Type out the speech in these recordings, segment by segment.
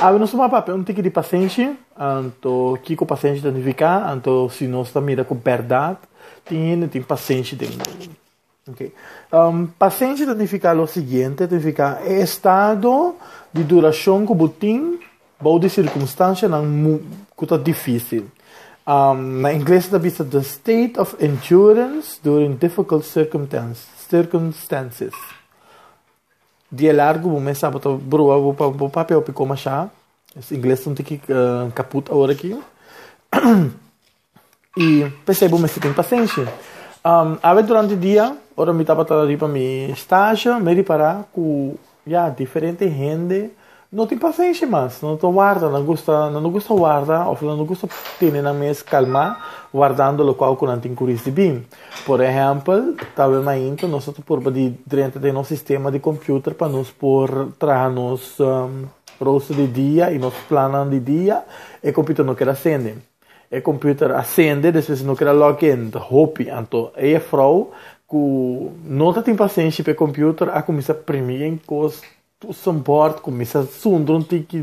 Abi nos tuma papia un tiki di pasenshi, anto kiko pasenshi ta nifiká, anto si nos ta mira ku bèrdat tin hende tin pasenshi den mundu. Ok, um, pasenshi ta nifiká lo siguiente, ta nifiká e estado di durashon ku bo tin bou di sirkunstanshanan mu ku ta difísil. Um, na ingles ta bisa the state of endurance during difficult circumtans- circumstances. Di e largu bo mester bo ta broba bo pa bo papia hopi coma sha. Es ingles ta un tiki caput awor aki. Y p'esei bo mester tin pacencia. Awe durante dia ora mi tabata riba mi stage mi repara cu ya diferente hende. No tin pasenshi mas, no ta warda, nan gusta, nan no gusta warda of nan no gusta tene nan mes kalmá wardando lokual ku nan tin kuris di bin. Por ehèmpel, tabel mainta nos no ta purba di drenta den nos sistema di kompüter pa nos por traha nos rooster di dia i nos plannan di dia, e kompüter no keda sende. E kompüter a sende, despues e no keda log in, ta hopi. Anto ei e frou ku no ta tin pasenshi p'e kompüter a kuminsá primi gen kos Tussen bord ku misa sunderen tin ki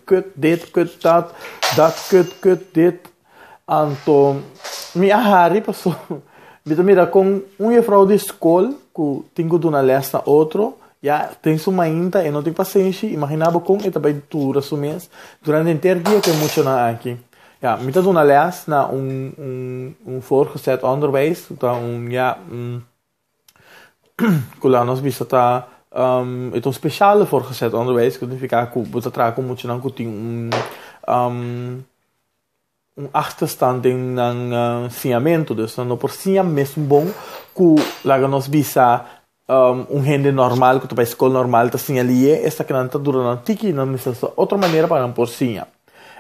kut dit, kut dat, dat kut, kut dit. Anto mi a hari paso mi ta mira kon un yefrou di skol ku tin ku duna lès na otro ya den su mainta e no tin pasenshi, imaginá bo kon e ta bai dura su mes durante enter dia ku e muchanan aki. Ya, mi ta duna lès na un un un voorgezet onderwijs, ta un ya un. Cu la nos bisa ta e ta un special di voortgezet onderwijs. Cu ta significa cu bo ta traha cu muchanan cu tin un un achterstand den nan siñamento. Dus nan no por siña mesun bon cu laga nos bisa un hende normal cu ta bay scol normal ta siña liye. Esaki nan ta dura nan tiki. Nan necesita otro manera pa nan por siña.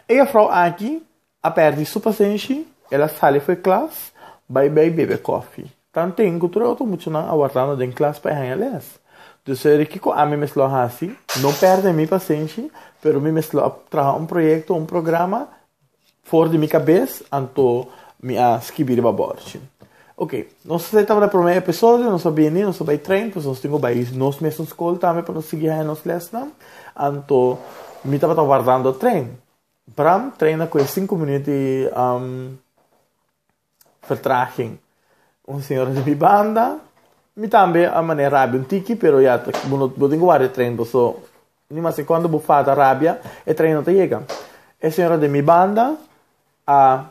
E juffrouw aki A perdi su pasenshi, el a sali for e klas bai bai bebe kofi. Tan teken ku tur e otro muchanan a wardando den klas pa e haña lès. Dus e ri kiko ami mes lo a hasi, no pèrdè mi pasenshi, pero mi mes lo a traha un proyekto, un programa for di mi kabes, anto mi a skibi riba bòrchi. Oke, nos a sai tabata e promé episodio, nos a bini, nos a bai trein, pues nos tin ku bai nos mesun skol tambe pa nos sigui haña nos lèsnan, anto mi tabata wardando trein. Bram treina cu e cinco minuut di vertraging. Un señor di mi banda. Mi tambe a manera rabia un tiki, pero ya ta, bo no, bo tin cu wari e trein bo, so ni mas ki cuando bo fata rabia, e trein no ta yega. E señora di mi banda a.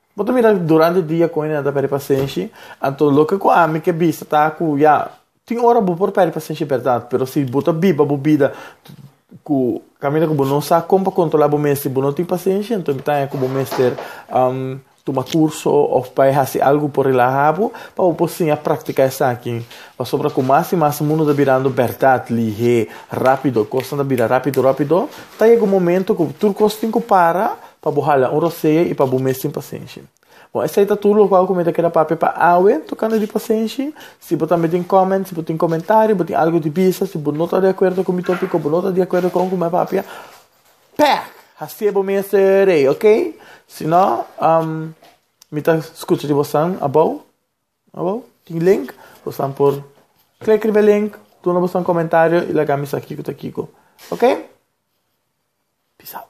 Bo ta mira durante dia con en'ta perde pasenshi, anto loke cu ami ke bisa ta cu ya, tin ora bo por perde pasenshi berdad, pero si bo ta biba bo bida cu caminda cu bo no sa con pa controla bo mes si bo no tin pasenshi, anto mi ta haña cu bo mester tuma curso of bay haci algo por relaha bo pa bo por siña practica esaki, pasobra cu mas y mas mundo ta birando berdad, lihe, rapido, cosnan ta bira rapido rapido, ta yega un momento cu tur cos tin cu para, Pa bo hala un rosea i pa bo mes tin pasenshi. Bon, esei ta tur lo kua ku mi ta keda papia pa awe tokante di pasenshi. Si bo tambe tin kòment, si bo tin komentario, bo tin algu di bisa, si bo no ta di akuerdo ku mi tòpik òf bo no ta di akuerdo kon ku mi a papia, pèh! Hasié bo mester rei, oke? Si no, mi ta skucha di bosan abou. Abo tin link, bosan por klik riba e link, duna bosan komentario i laga mi sa kiko ta kiko. Ok? Peace out.